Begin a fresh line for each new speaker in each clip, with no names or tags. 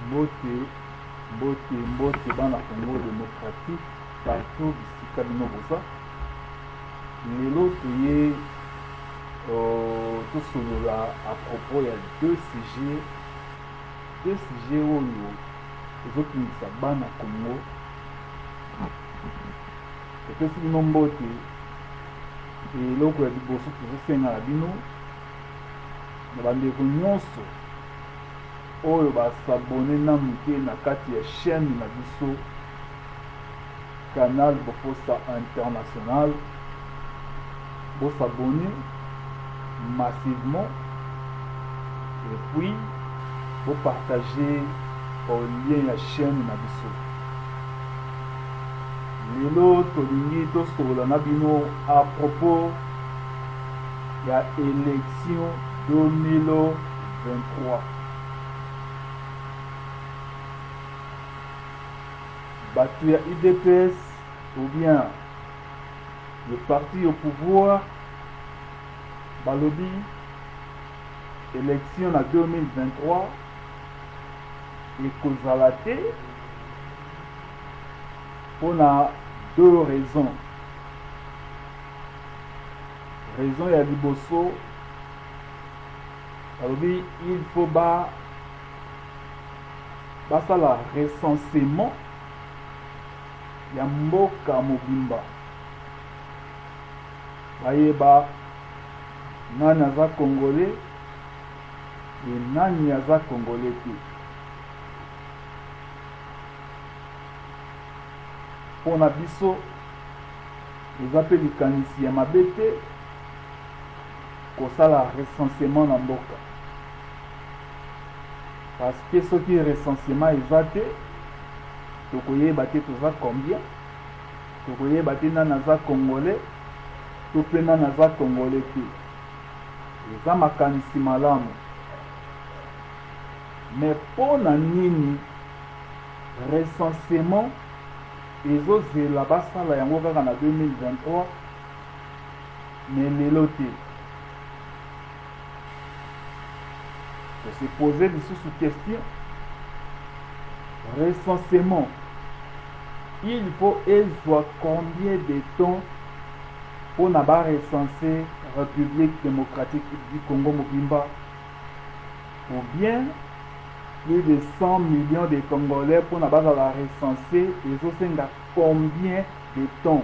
Mbote mbote mbote bana Congo democratique partout bisika bino boza lelo toye uh, tosolola à propos ya deux sujets deux sujets oyo ezotungisa bana Congo epesi bino mbote eloko ya liboso tozosenga na bino na bandeko nyonso oyo ba s'abonner nanu te na kati ya chaine na biso canal bofossa international bo s'abonner massivement et puis bo partager au lien ya chaine na biso lelo tolingi tosolola na bino à propos ya élection 2000 23, batu ya udps ou bien le parti au pouvoir balobi election na 2023 ekozala te mpo na deux raisons raison ya liboso balobi il faut ba basala recensement ya mboka mobimba bayeba nani aza congolais e nani aza congolais te mpo na biso eza mpe likanisi ya mabe te kosala recensement na mboka parce que soki recensement eza te tokoyeba te toza combien tokoyeba te nani aza congolais to mpe nani aza congolais te eza makanisi malamu me mpo na nini recensement ezozela basala yango kaka na 2023 mais lelo te to se poser lisusu question recensement il faut ezwa combien de temps mpo na barecense république démocratique du congo mobimba ou bien plus de 100 millions de congolais mpo na bazala recense ezosenga combien de temps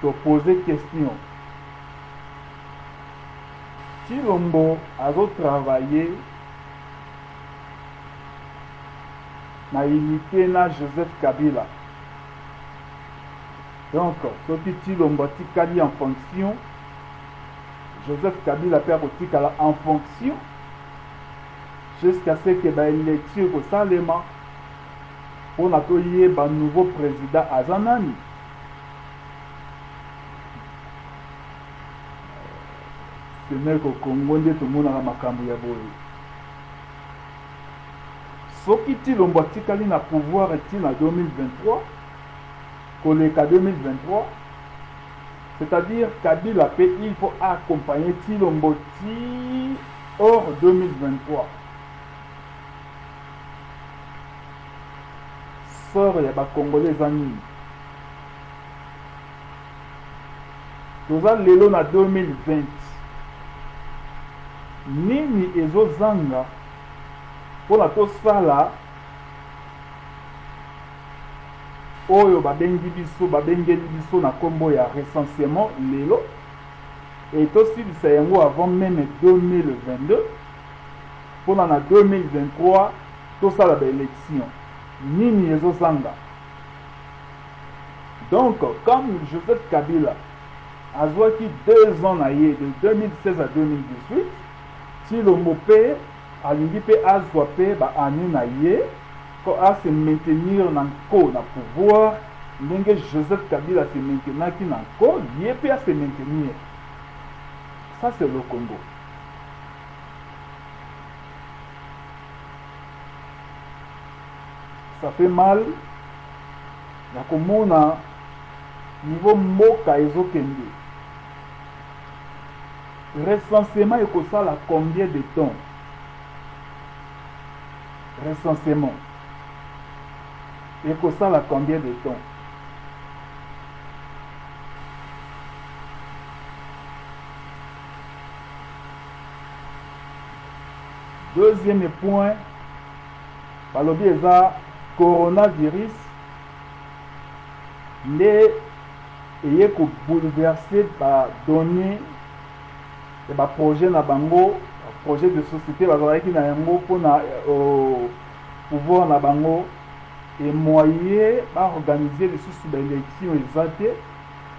To poser question. Tshilombo azo travailler na unite na Joseph Kabila. Donc soki Tshilombo atikali en fonction, Joseph Kabila mpe akotikala en fonction jusqu'à ce que ba élection ekosalema Pona to yeba nouveau president aza nani? Ce n'est qu'au Congo nde tomonaka makambu ya boye. Soki Tshilombo atikali na pouvoir ti na 2023, koleka 2023, c'est-à-dire Kabila pe il faut accompagner Tshilombo ti hors 2023. Sort ya ba congolais eza nini? Toza lelo na 2020 nini ezo zanga pona tosala oyo babengi biso babengeli biso na kombo ya recensemment lelo et tosilisa yango avant meme 2022 pona na 2023 tosala ba elections nini ezo zanga donc comme Joseph Kabila azuaki deux ans na ye de 2016 à 2018 Tshilombo pe alingi pe azua pe ba annees na ye po a se maintenir na nko na pouvoir ndenge Joseph Kabila se maintenaki na nko ye pe a se maintenir ça c'est le Congo ça fait mal ya komona niveau mboka ezokende recensement ekosala combien de temps recensement ekosala combien de temps Deuxième point, balobi eza coronavirus nde eye kobouleverse badonnée ya baprojet na bango projet de société bazalaki na yango mpona euh, pouvoir na bango emoye baorganize lisusu baélection eza te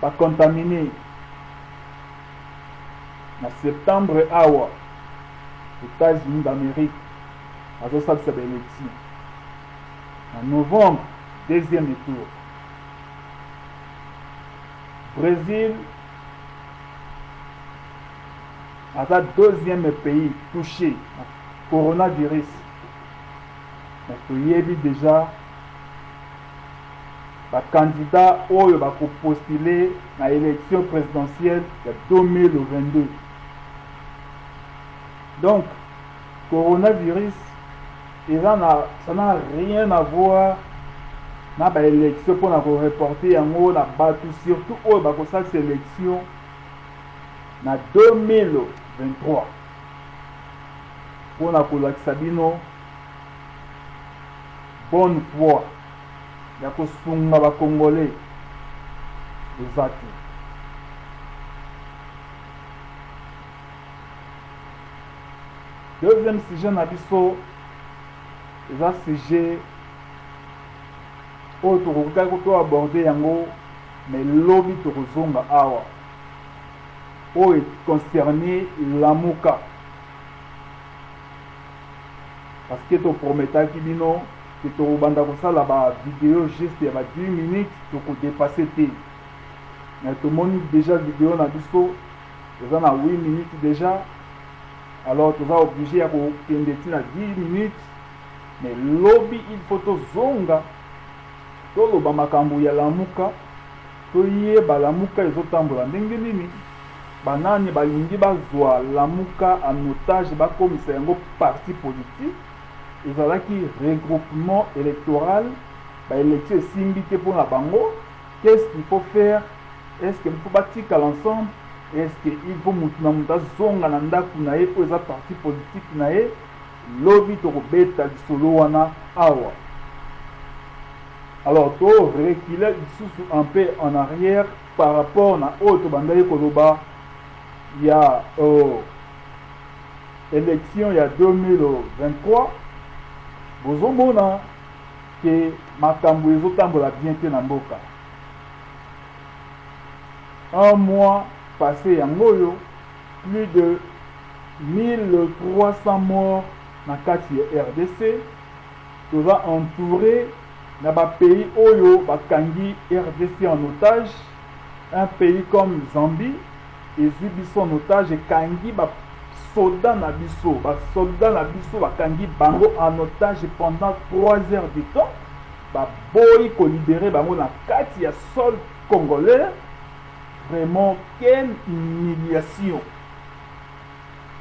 Ba contamine na septembre awa Etats Unis d'Amerique bazo salisa ba election na novembre deuxième tour Brazil aza deuxième pays touché na coronavirus mais toyebi dejà ba candidats oyo ba ko postuler na election presidentielle ya 2022. Donc, coronavirus eza na ça n'a rien à voir na ba election mpo na ko reporter yango na bato surtout oyo bakosalisa election na 2023 mpo na kolakisa bino bonne foi ya kosunga ba congolais eza te deuxième sujet na biso eza sujet oyo tokokaki to aborde yango mais lobi tokozonga awa oyo concerne lamuka parce que to prometaki bino que tokobanda kosala ba video juste ya ba 10 minutes toko dépasser te mais tomoni déjà video na biso eza na 8 minutes déjà alors toza oblige ya kokende ti na 10 minutes mais lobi il faut tozonga toloba makambo ya lamuka toyeba lamuka ezotambola ndenge nini Banani balingi bazua lamuka en otage bakomisa yango parti politique? Ezalaki regroupement electoral ba election esimbi te pona bango qu'est ce qu'il faut faire? Est ce que il faut batikala ensemble? Est ce que il faut mutu na mutu azonga na ndaku na ye oyo eza parti politique na ye? Lobi tokobeta lisolo wana awa. Alors to reculer lisusu un peu en arrière Par rapport na oyo tobandaki koloba ya euh, election ya 2023 bozomona ke makambo ezotambola bien te na mboka. Un mois passe yango oyo plus de 1300 morts na kati ya RDC toza entouré na ba pays oyo ba kangi rdc en otage, un pays comme Zambie ezui biso en otage ekangi ba soldats na biso, ba soldats na biso ba kangi bango en otage pendant trois heures de temps, ba boyi ko liberer bango na kati ya sol congolais, vraiment quelle humiliation!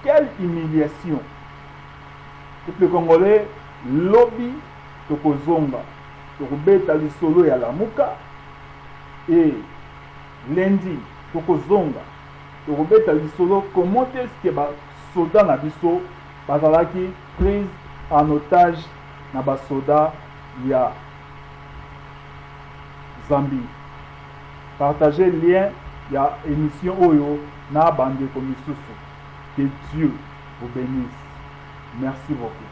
Quelle humiliation! Peuple congolais lobi. Tokozonga tokobeta lisolo ya lamuka et lundi tokozonga tokobeta lisolo comment est ce que ba soda na biso bazalaki prise en otage na ba soda ya Zambie. Partager lien ya emission oyo na ba ndeko misusu. Que Dieu vous benisse. Merci beaucoup.